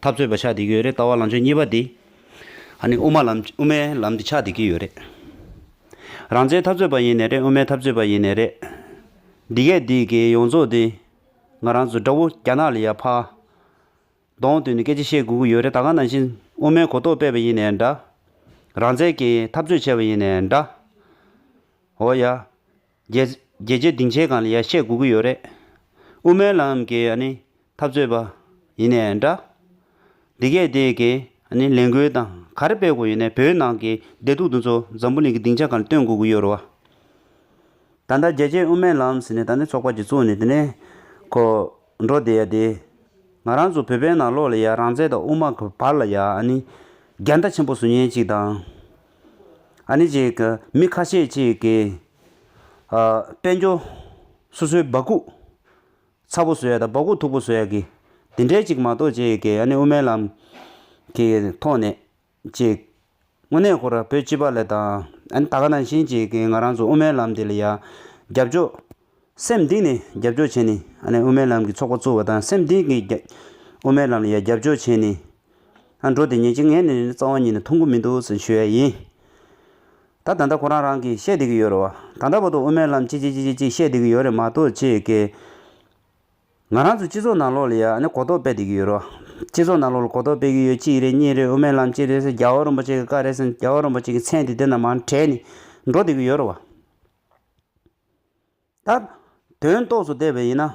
འཐབ་རྩོད་པ་ཆགས་བསྡད་ཀྱི་ཡོད་རེད་ལྟ་བ་ལང་ཕྱོགས་གཉིས་པ་འདི། ཧ་ནི་དབུ་མ་ལམ་དབུ་མའི་ལམ་འདི་ཆགས་བསྡད་ཀྱི་ཡོད་རེད། རང་བཙན་འཐབ་རྩོད་པ་ཡིན་ནས་རེད་དབུ་མའི་འཐབ་རྩོད་པ་ཡིན་ནས་རེད། འདི་སྐད་འདི་གའི་ཡོངས་རྫོགས་འདི། ང་རང་ཚོ་དགྲ་བོ་རྒྱ་ནག་ལ་ཡར་ཕ། གདོང་བཏུས་ནས་སྐད་ཆ་བཤད་དགོས་ཀྱི་ཡོད་རེད་ད་ག་ནང་བཞིན་དབུ་མའི་གོ་རྟོགས་སྤེལ་བ་ཡིན་ནས་འདྲ། རང་བཙན་གྱི་འཐབ་རྩོད་བྱས་པ་ཡིན་ནས་འདྲ། འོ་ཡ། རྒྱལ་རྗེ་སྡིངས་ཆའི་སྒང་ལ་ཡར་ཤད་སྒུག་གི་ཡོད་རེད། དབུ་མའི་ལམ་གྱི་འཐབ་རྩོད་པ་ཡིན་ནས་འདྲ། འདི་གས་དེ་གའི་ལས་འགུལ་དང་ག་རེ་སྤེལ་དགོས་ཡིན་ནས་བོད་ནང་གི་བདེ་སྡུག་འདི་ཚོ་འཛམ་བུ་གླིང་གི་སྡིངས་ཆ་སྒང་ལ་སྟོན་སྒུག་གི་ཡོད་རེད་བ། ད་ལྟ་རྒྱལ་རྗེ་དབུ་མའི་ལམ་ཟེར་ནས་ད་ནི་ཚོགས་པ་གཅིག་བཙུགས་ནས་དེ་ནས་ཁོ་འགྲོ་བསྡད་ཡ་དེ། ང་རང་ཚོ་བོད་པའི་ནང་ལོགས་ལ་ཡ་རང་བཙན་དང་དབུ་མ་གི་བར་ལ་ཡ་རྒྱལ་ཟླ་ཆེན་པོ་ཟུར་ཉན་གཅིག་དང། མི་ཁ་ཤས་ཀྱིས་དཔལ་འབྱོར་སོ་སོའི་སྦག་གུག་ཚ་པོ་བཟོས་ཡ་དང་སྦག་གུག་མཐུག་པོ་བཟོས་ཡ་གི་དེ་འདྲའི་ཅིག་མ་གཏོགས་ཅེས་ཀྱི་ཡ་ནི་དབུ་མའི་ལམ་གྱི་ཐོག་ནས་ཅིག་དངོས་གནས་ཁོ་རང་བོད་སྤྱི་པ་ལ་དང་ད་ག་ནང་བཞིན་ཅིག་ང་རང་ཚོ་དབུ་མའི་ལམ་འདི་ལ་ཡ་རྒྱབ་ཕྱོགས་སེམས་གཏིང་ནས་རྒྱབ་སྐྱོར་བྱས་ནས་དབུ་མའི་ལམ་གྱི་ཚོགས་པ་བཙུགས་པ་དང་སེམས་གཏིང་གི་དབུ་མའི་ལམ་ལ་ཡང་རྒྱབ་སྐྱོར་བྱས་ནས་འགྲོ་དེ་ཉིན་གཅིག་ངས་ནི་རྩ་བ་ཉིད་ནས་ཐུགས་འགུ་མི་འདུག་ཟེར་ཞུ་ཡ་ཡིན། ད་ད་ལྟ་ཁོ་རང་རང་གིས་བཤད་བསྡད་ཀྱི་ཡོད་རེད་བ། ད་ལྟ་བར་དུ་དབུ་མའི་ལམ་ཅིག་ཅིག་ཅིག་ཅིག་ཅིག་བཤད་བསྡད་ཀྱི་ཡོད་རེད་མ་གཏོགས་ཅེས་སྐད། ང་རང་ཚོའི་སྤྱི་ཚོགས་ནང་ལོགས་ལ་ཡང་གོ་རྟོགས་སྤེལ་བསྡད་ཀྱི་ཡོད་རེད་བ། སྤྱི་ཚོགས་ནང་ལོགས་ལ་གོ་རྟོགས་སྤེལ་གྱི་ཡོད་གཅིག་རེད་གཉིས་རེད་དབུ་མའི་ལམ་ཅིག་རེད་ཟེར་རྒྱ་བོད་རིན་པོ་ཆེ་གི་བཀའ་རེད་ཟེར་རྒྱ་བོད་རིན་པོ་ཆེ་གི་མཚན་དེ་དེ་རྣམས་མང་དྲས་ནས་འགྲོ་བསྡད་ཀྱི་ཡོད་རེད་བ། ད། དོན་རྟོགས་སུ་བལྟས་པས་ཡིན་ན།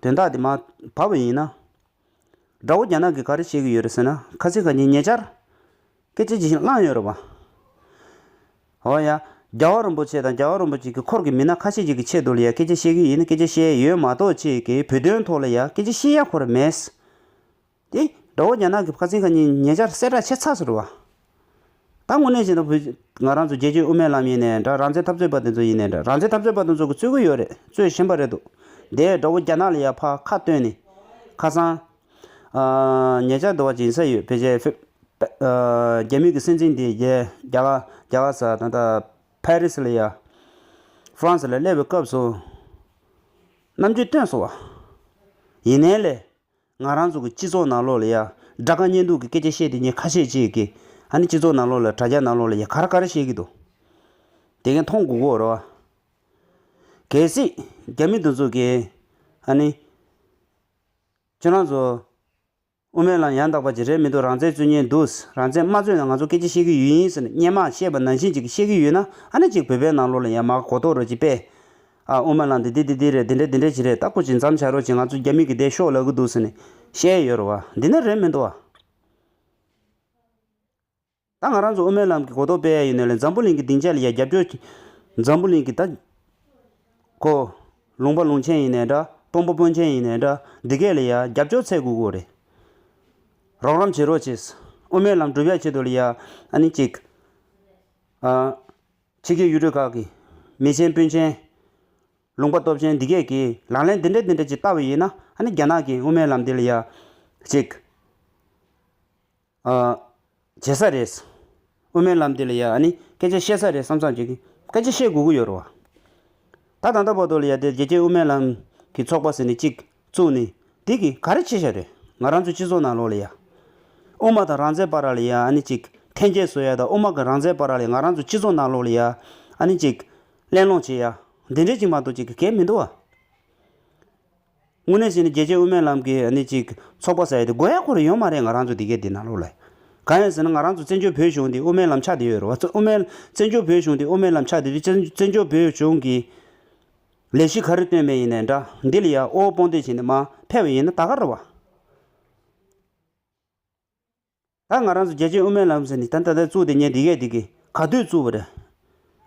དོན་དག་དེ་མ་བབས་པས་ཡིན་ན། དགྲ་བོ་རྒྱ་ནག་གིས་ག་རེ་བྱེད་ཀྱི་ཡོད་རེད་ཟེར་ན། ཁ་ཚིག་ག་གཉིས་ཉེ་ཆར། སྐད་ཆ་ཇི་བཞིན་བླངས་ཡོད་རེད་པ། ཨོ་ཡ། རྒྱ་བ་རིན་པོ་ཆེ་དང་རྒྱ་བ་རིན་པོ་ཆེ་གི་འཁོར་གྱི་མི་སྣ་ཁ་ཤས་ཅིག་གི་ཆེད་དུ་ལ་ཡང་སྐད་ཆ་བཤད་ཀྱི་ཡིན་སྐད་ཆ་བཤད་ཡོད་མ་གཏོགས་ཅིག་གིས་བོད་དོན་ཐོག་ལ་ཡང་སྐད་ཆ་བཤད་ཡ་གོ་རེ་མེད། ཏེ། དགྲ་བོ་རྒྱ་ནག་གི་ཕར་ཚིང་ཁ་ཉིན་ཉེ་ཆར་གསལ་བསྒྲགས་བྱས་ཚར་ཟེར་བ། ད་དངོས་གནས་བྱས་ན་བོད་ང་རང་ཚོ་རྒྱལ་གཅེས་དབུ་མའི་ལམ་ཡིན་ནས་འདྲ་རང་བཙན་འཐབ་རྩོད་པ་དེ་ཚོ་ཡིན་ནས་འདྲ་རང་བཙན་འཐབ་རྩོད་པ་དེ་ཚོ་གི་རྩོད་ཀི་ཡོད་རེད་རྩོད་བཞིན་པ་རེད་འདུག་དེས་དགྲ་བོ་རྒྱ་ནག་ལ་ཡར་ཕར་ཁ་བཏོན་ནས། ཁ་སང། ཉེ་ཆར་དུ་བ་སྦྱིན་ས་ཡོད་བེ་ཇའི་ཕེབས། རྒྱ་མི་གི་སྲིད་འཛིན་དེ་རྒྱ་རྒྱ་ག་ས་ད་ལྟ་ཕ་རི་སི་ལ་ཡར། France ལ་སླེབས་པའི་སྐབས་སུ། རྣམ་དཔྱོད་བཏོན་སོང་བ། ཡིན་ནའི་ལས། ང་རང་ཚོ་གི་སྤྱི་ཚོགས་ནང་ལོགས་ལ་ཡ། དགྲ་དགའ་གཉེན་སྡུག་གི་སྐད་ཆ་བཤད་དེ་ཉེས་ཁ་ཤས་བྱེད་ཀི། ཧ་ནི་སྤྱི་ཚོགས་ནང་ལོགས་ལ་དྲ་རྒྱ་ནང་ལོགས་ལ་ཡ་ག་ར་ག་ར་བཤད་ཀི་འདུག། དེ་གས་མཐོང་གུ་གོ་རོ་ཨ། གལ་སྲིད། རྒྱ་མི་དང་ཚོ་གས། ཧ་ནི། ཁྱོད་རང་ཚོ། དབུ་མའི་ལམ་ཡང་དག་པ་ཅིག་རེད་མི་འདུག་རང་བཙན་རྩོད་ཉེན་འདུག་རང་བཙན་མ་རྩོད་ན་ང་ཚོ་སྐད་ཆ་བཤད་ཀི་ཡོད་ཡིན་ཟེར་ནས་སྙན་མ་བཤད་པ་ནང་བཞིན་ཅིག་བཤད་ཀི་ཡོད་ན་ཧ་ནི་ཅིག་བོད་པའི་ནང་ལོགས་ལ་ཡ་མ་གོ་གཏོགས་རོ་ཅིག་པས། ཨ་ཨོ་མ་ལགས་འདི་འདི་འདི་འདི་རེད་འདི་འདྲ་འདི་འདྲ་བྱེད་རེད་ད་ཁོ་ཅིག་འཇམ་བྱ་རོགས་ཅིག་ང་ཚོ་རྒྱ་མི་གི་སྡད་ཤོག་ལབ་གི་འདུག་ཟེར་ནས་བཤད་ཡོད་རེད་བ་འདི་ནི་རེད་མི་འདུག་བ། ད་ང་རང་ཚོ་ཨོ་མའི་ལམ་གི་གོ་རྟོགས་སྤེལ་ཡ་ཡིན་ནོད་ལེ་འཛམ་བུ་གླིང་གི་སྡིངས་ཆ་ལ་ཡ་རྒྱབ་སྐྱོར་གྱི། འཛམ་བུ་གླིང་གི་ད། ཁོ། ལུང་པ་ལུང་ཆེན་ཡིན་ནའི་འདྲ་དཔོན་པ་དཔོན་ཆེན་ཡིན་ནའི་འདྲ་འདི་གས་ལ་ཡ་རྒྱབ་སྐྱོར་ཚད་དགོས་དགོས་རེད། རོགས་རམ་བྱེད་རོགས་ཅིག། ཨོ་མའི་ལམ་བསྒྲུབ་ཡ་བྱེད་དོ་ལ་ཡ་ཨ་ནི་གཅིག། ཨ། ཕྱི་རྒྱལ་ཡུལ་གྲུ་ཁག་གི་མི་ཆེན་དཔོན་ཆེན། ལུང་པ་སྟོབས་ཆེན་འདི་སྐད་ཀྱིས་ལག་ལེན་འདི་འདྲ་འདི་འདྲ་ཅིག་བསྟར་བ་ཡིན་ན་ཨ་ནི་རྒྱ་ནག་གིས་དབུ་མའི་ལམ་འདི་ལ་ཡག་ཅིག་བྱེད་ས་རེད། དབུ་མའི་ལམ་འདི་ལ་ཡག་ཨ་ནི་སྐད་ཆ་བཤད་ས་རེད་བསམ་བསམ་བྱེད་ཀྱི་སྐད་ཆ་བཤད་དགོས་ཀྱི་ཡོད་རེད་བ། ད་ད་ལྟ་བར་དུ་ལ་ཡ་དེ་རྒྱལ་སྤྱིའི་དབུ་མའི་ལམ་གྱི་ཚོགས་པ་ཟེར་ནས་གཅིག་བཙུགས་ནས་དེ་གིས་ག་རེ་བྱེད་བཞག་རེད། ང་རང་ཚོའི་སྤྱི་ཚོགས་ནང་ལོགས་ལ་ཡ། དབུ་མ་དང་རང་བཙན་པ་ར་ལ་ཡ་ཨ་ནི་གཅིག་ཐན་སྐྱེད་བཟོ་ཡ་དང་དབུ་མ་གི་རང་བཙན་པ་ར་ལས་ང་རང་ཚོའི་སྤྱི་ཚོགས་ནང་ལོགས་ལ་ཡ་ཨ་ནི་གཅིག་གླེང་སློང་བྱེད་ཡ། འདི་འདྲས་ཅིག་མ་གཏོགས་ཅིག་གི་གལ་མི་འདུག་ཨ། དངོས་གནས་བྱས་ནས་རྒྱལ་གཅེས་དབུ་མའི་ལམ་གི་ཨ་ནི་གཅིག་ཚོགས་པ་ཟེར་ཡ་དེ་དགོས་ཡ་ཁོ་རེ་ཡོད་མ་རེད་ང་རང་ཚོ་འདི་གའི་འདི་ནང་ལོགས་ལ་ཡ། གང་ཡིན་ཟེར་ན་ང་རང་ཚོ་བཙན་བྱོལ་བོད་གཞུང་འདི་དབུ་མའི་ལམ་ཕྱག་འདི་ཡོད་རེད་བ། དབུ་མའི་བཙན་བྱོལ་བོད་གཞུང་འདི་དབུ་མའི་ལམ་ཕྱག་འདི་དུས་བཙན་བྱོལ་བོད་གཞུང་གི། ལས་གཞི་ག་རེ་བཏོན་པའི་ཡིན་ནའི་འདྲ་འདི་ལ་ཡ་ཨོའོ་སྤོང་འདོད་བྱེད་ནི་མ་ཕལ་བའི་ཡིན་ན་ད་ག་ར་བ། ད་ང་རང་ཚོ་རྒྱལ་གཅེས་དབུ་མའི་ལམ་ཟེར་ནི་ད་ད་ད་བཙུགས་ཏེ་ཉེ་འདི་གས་འདི་གས་ག་དུས་བཙུགས་པ་རེད།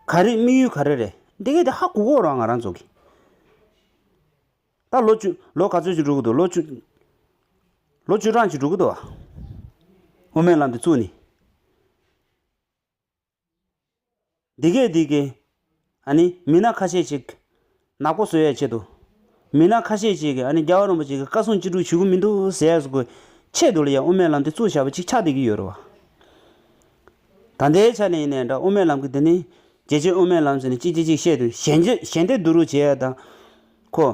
ག་རེ་དམིགས་ཡུལ་ག་རེ་རེད་འདི་གས་འདི་ཧ་གུ་གོ་རང་ང་རང་ཚོ་གིས། ད་ལོ་བཅུ་ལོ་ག་ཚོད་ཅིག་འགྲོ་གི་འདུག་ལོ་བཅུ་ལོ་བཅུ་གྲངས་ཅིག་འགྲོ་གི་འདུག་བ། དབུ་མའི་ལམ་འདི་བཙུགས་ནི། འདི་སྐད་འདི་སྐད། ཨ་ནི་མི་སྣ་ཁ་ཤས་ཅིག་ནག་པོ་བཟོ་ཡའི་ཆེད་དུ། མི་སྣ་ཁ་ཤས་ཅིག་གིས་ཨ་ནི་རྒྱ་བ་རིན་པོ་ཆེ་གི་བཀའ་གསུང་ཅི་དྲུག་ཞུ་གི་མི་འདུག་ཟས་གོ། ཆེད་དུ་ལ་ཡ་དབུ་མའི་ལམ་དེ་གཙུག་བྱ་བ་ཅིག་ཆགས་བསྡད་ཀྱི་ཡོད་རེད་བ། ད་ལྟའི་ཆ་ནས་ཡིན་ནའི་འདྲ་དབུ་མའི་ལམ་གི་འདི་ནི། རྒྱལ་གཅེས་དབུ་མའི་ལམ་ཟེར་ནས་ཅི་བྱེད་ཅིག་བཤད་དུས་ཞལ་འདེབས་ཞལ་འདེབས་བསྡུ་རུག་བྱེད་ཡ་དང། ཁོ།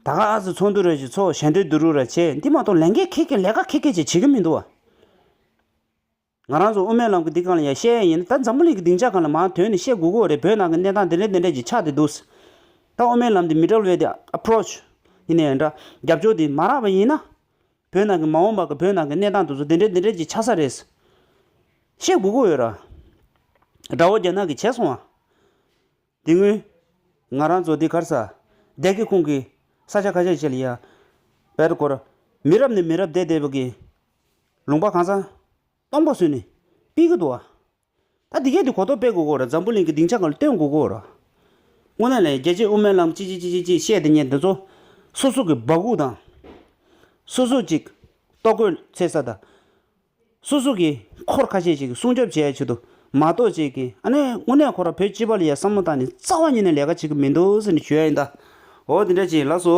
ད་ག་ཨ་ཟི་ཚོགས་འདུ་རེད་ཅེས་ཚོགས་ཞལ་འདེབས་བསྡུ་རུག་ར་བྱེད་འདི་མ་གཏོགས་ལས་འགན་ཁེ་གེ་ལས་ཀ་ཁེ་གེ་ཅིག་བྱེད་ཀྱི་མི་འདུག་བ། ང་རང་ཚོ་དབུ་མའི་ལམ་གྱི་སྡིག་གང་ལ་ཡང་བཤད་ཡ་ཡིན་ད་འཛམ་བུ་གླིང་གི་སྡིང་ཆ་གང་ལ་མང་དོན་ནི་བཤད་དགོས་དགོས་རེད་བོད་ནང་གི་གནས་སྟངས་དེ་འདྲའི་དེ་འདྲའི་ཅིག་ཆགས་དེ་འདུག་ཟེར་ད་དབུ་མའི་ལམ་དེ་མི་དྲལ་བའི་དེ Approach ཡིན་ནའི་འདྲ་རྒྱབ་སྐྱོར་དེ་མ་རག་པ་ཡིན་ན། བོད་ནང་གི་མ་འོངས་པ་གི་བོད་ནང་གི་གནས་སྟངས་དེ་ཚོ་དེ་འདྲའི་དེ་འདྲའི་ཅིག་ཆགས་ས་རེད་བཤད་དགོས་དགོས་ཡོད་ར། དགྲ་བོ་རྒྱ་ནག་གི་བྱས་སོང་བ། དེ་སྔོན། ང་རང་ཚོ་འདི་གར་ས་དད་ཀྱི་ཁོང་གི་ས་ཆ་ཁ་ཤས་བྱས་ལ་ཡ། བལ་དུ་འཁོར། མི་རབས་ནས་མི་རབས་འདས་འདས་པོ་གི་ལུང་པ་གང་ས། སྟོང་པ་བཟོས་ནས་སྤེལ་གྱི་འདུག་ཨ། ད་འདི་གས་དུས་གོ་རྟོགས་སྤེལ་དགོས་གོ་ར་འཛམ་བུ་གླིང་གི་སྡིངས་ཆ་གང་ལ་སྟོན་དགོས་གོ་ར། དངོས་གནས་ལ་ཡང་རྒྱལ་གཅེས་དབུ་མའི་ལམ་ཅི་ཅི་ཅི་ཅི་ཅི་བཤད་དེ་ཉན་དེ་ཚོ་སོ་སོ་གི་འབག་སྒུག་དང། སོ་སོ་ཅིག་ལྟོ་གོས་འཚེད་ས་དང། སོ་སོ་གིས་འཁོར་ཁ་ཤས་ཤིག་སྲུང་སྐྱོབ་བྱས་ཆེད་དུ་མ་གཏོགས་ཅེས་ཀྱི་ཨ་ནེ་དངོས་གནས་ཁོ་རང་བོད་སྤྱི་པ་ལ་ཡང་བསམ་བློ་བཏང་ནས་རྩ་བ་ཉིད་ནས་ལས་ཀ་བྱེད་གི་མི་འདུག་ཟེར་ནས་ཞུ་ཡ་ཡིན་ད། འོ་དེ་འདྲ་བྱས་ལགས་སོ།